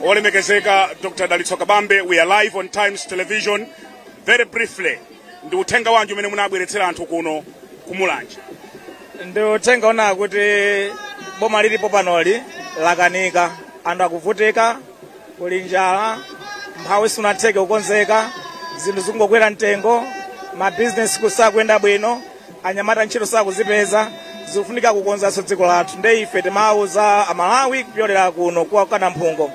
olemekezeka dr dalitso kabambe we are live on times television very briefly ndi uthenga wanji umene munabweretsera anthu kuno kumulanje ndi uthenga onena kuti boma lilipo panoli lakanika anthu akuvutika kuli njala umphawi sunatheke kukonzeka zinthu zikungokwera mtengo mabizinesi kusakuyenda bwino anyamata ntchito sakuzipeza zikufunika kukonzanso dziko lathu nde ife timawuza amalawi kupyolera kuno kwa namphungo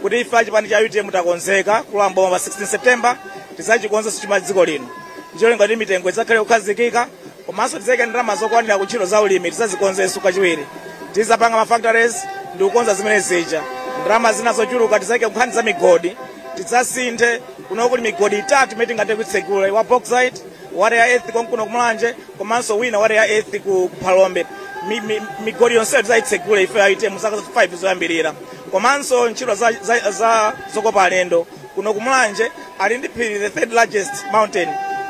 kuti ife achipani cha utm takonzeka kulowa mboma pa 16 september tizachikonzanso chuma dziko lino ncholinga kuti mitengo idzakhale kukhazikika komanso tizayika ndalama zokwanira ku ntchito za ulimi tizazikonzenso kachiwiri tizapanga ma factories ndi kukonza zimene zija ndalama zina zochuluka tizayike kunkhani za migodi tidzasinthe kuno kuli migodi itatu imene tingathe kuitsegula wa bauxite wa rare earth konkuno kumulanje komanso wina wa rare earth ku ku phalombe Mi- mi- migodi yonseyo tidzayitsegule ife a utm zaka 5 zoyambirira komanso ntchito za, za, za zokopa alendo kuno kumulanje ali ndi phiri the third largest mountain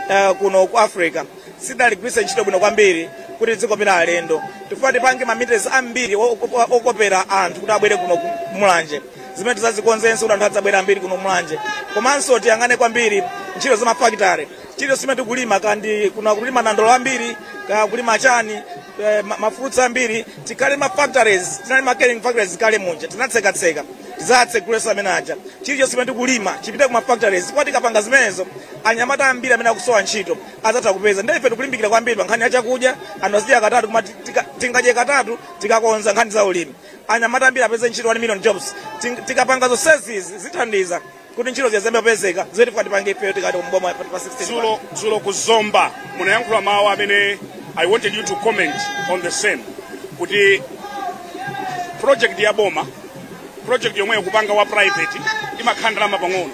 uh, kuno ku africa sidaligwiritse ntchito bwino kwambiri kuti dzikopera alendo tifuna tipange ma amenities ambiri o- o- okopera anthu kuti abwere kuno ku- kumulanje zimene tizazikonzenso kuti anthu adzibwera ambiri kuno kumulanje komanso tiyang'ane kwambiri ntchito za mafakitare chilichonse chimene tikulima kaya ndi kuno akulima nandolo ambiri kaya kulima chani eh, ma- mafruits ambiri tikhale ma factories tinali ma canning factories kale munja tinatsekatseka tizatsegulenso amene aja chilichonse chimene tikulima chipite ku ma factories kwa tikapanga zimenezo anyamata ambiri amene akusowa ntchito azatha kupeza ndiye ife tikulimbikira kwambiri pa nkhani ya chakudya anthu azidya katatu koma ti- tika- tingadye katatu tikakonza nkhani za ulimi anyamata ambiri apeze ntchito 1 million jobs Ting- tikapanga zonsezi zithandiza kuti ntchito ziyambe kupezeka zimene tifuna tipange ifeyo tikatenga boma pa 16 dzulo dzulo ku zomba munayankhula mawu amene i wanted you to comment on the same kuti project ya boma project yomweyo kupanga wa private imakhala ndalama pang'ono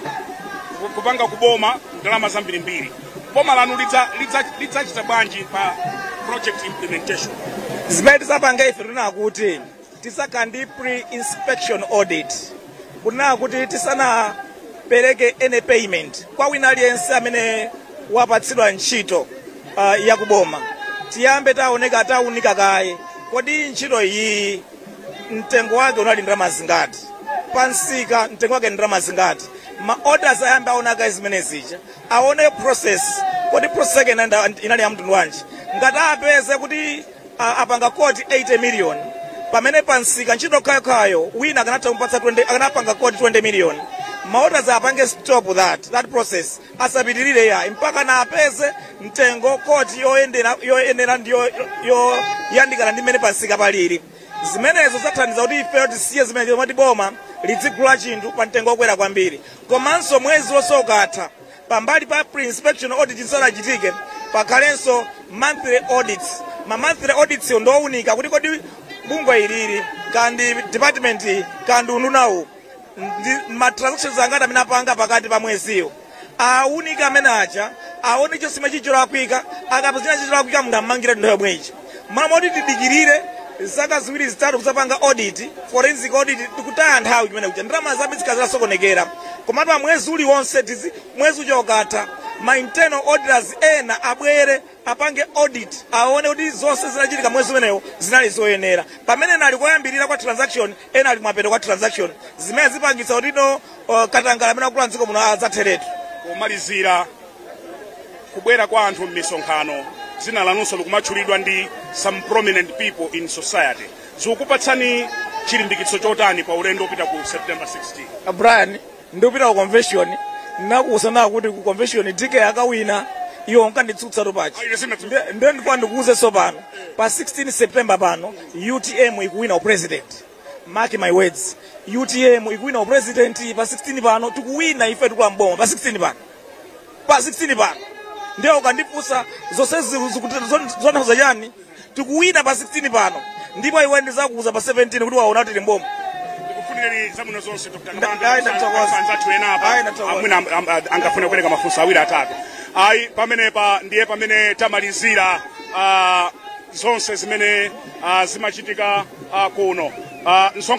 Ku- kupanga kuboma ndalama zambirimbiri boma lanu lidza- lidza- lidzachita bwanji pa project implementation zimene tizapange ife tifuna kuti tizakhale ndi pre-inspection audit kunena kuti tisanapereke any payment kwa wina aliyense amene wapatsidwa ntchito uh, yakuboma tiyambe taoneka taunika kaye kodi ntchito iyi mtengo wake unali ndalama zingati pansika mtengo wake ndalama zingati ma auditors ayambe aona kaye zimene zija aone process kodi process yake inali ya mtundu wanji ngati atapeze kuti a- apanga koti 80 million pamene pa msika ntchito yokhayokhayo wina akanatha kumpatsa 20 akanapanga koti 20 million ma auditors apange stop that that process asapitirire ayi mpaka apeze mtengo woti yoyendera yoyenera ndi yo- yoyandikana ndi mmene pa msika palili zimenezo zathandiza kuti ife tisiye zimene zomati boma lidzigula chinthu pa mtengo wokwera kwambiri komanso mwezi uliwonse ukatha Pambali pa pre-inspection audit zisanachitike pakhalenso monthly audits. Ma monthly audits yo ndi owunika kuti kodi bungwe ilili, kaya ndi department iyi, kaya ndi undunawu ndi ma transactions angati amene apanga pakati pa mweziwo awunike amenewo aja aone chosalima chicholakwika akapeza chicholakwika munthu ammangire nthawi yomweyo mmalo moti tidikirire zaka ziwiri zitatu kudzapanga audit forensic audit tikutaya nthawi kumene kuja ndalama zambiri zikhala zasokonekera koma pa mwezi uliwonse tizi mwezi uja ukatha ma internal auditors ena abwere apange audit aone kuti zonse zinachitika mwezi umenewo zinali zoyenera pamene ena ali koyambirira kwa transaction ena ali kumapeto kwa transaction zimenezi zipangitsa kuti no uh, katangala amene akula mdziko muno adzatheretu pomalizira kubwera kwa anthu m'misonkhano dzina lanunso likumatchulidwa ndi some prominent people in society zikukupatsani chilimbikitso chotani pa ulendo wopita ku september 16 brian ndikupita ku convention ndinakuuza kuti ku convention dk akawina iwe unkanditsutsa topachi nde ndikufuna ndikuuzenso pano pa 16 september pano utm ikuwina upresident mark my words utm ikuwina upresident pa 16 pano tikuwina ife tikulowa mboma pa 16 pano pa 16 pano ndiye ukandifunsa zonsezi zikutanthauza chani tikuwina pa 16 pano ndipo iwe ndizakuuza pa 17 kuti waona kuti tili mboma ndikufunireni zabwino zonse Dr. Nda- Kabambe, ayi, ndakuthokoza. kusanza anzathu ena apa Ayi, ndakuthokoza. amwina am- am- a- angafune kupereka mafunso awiri atatu ayi pamenepa ndiye pamene tamalizira ah, zonse zimene ah, zimachitika ah, kuno ku msonkhano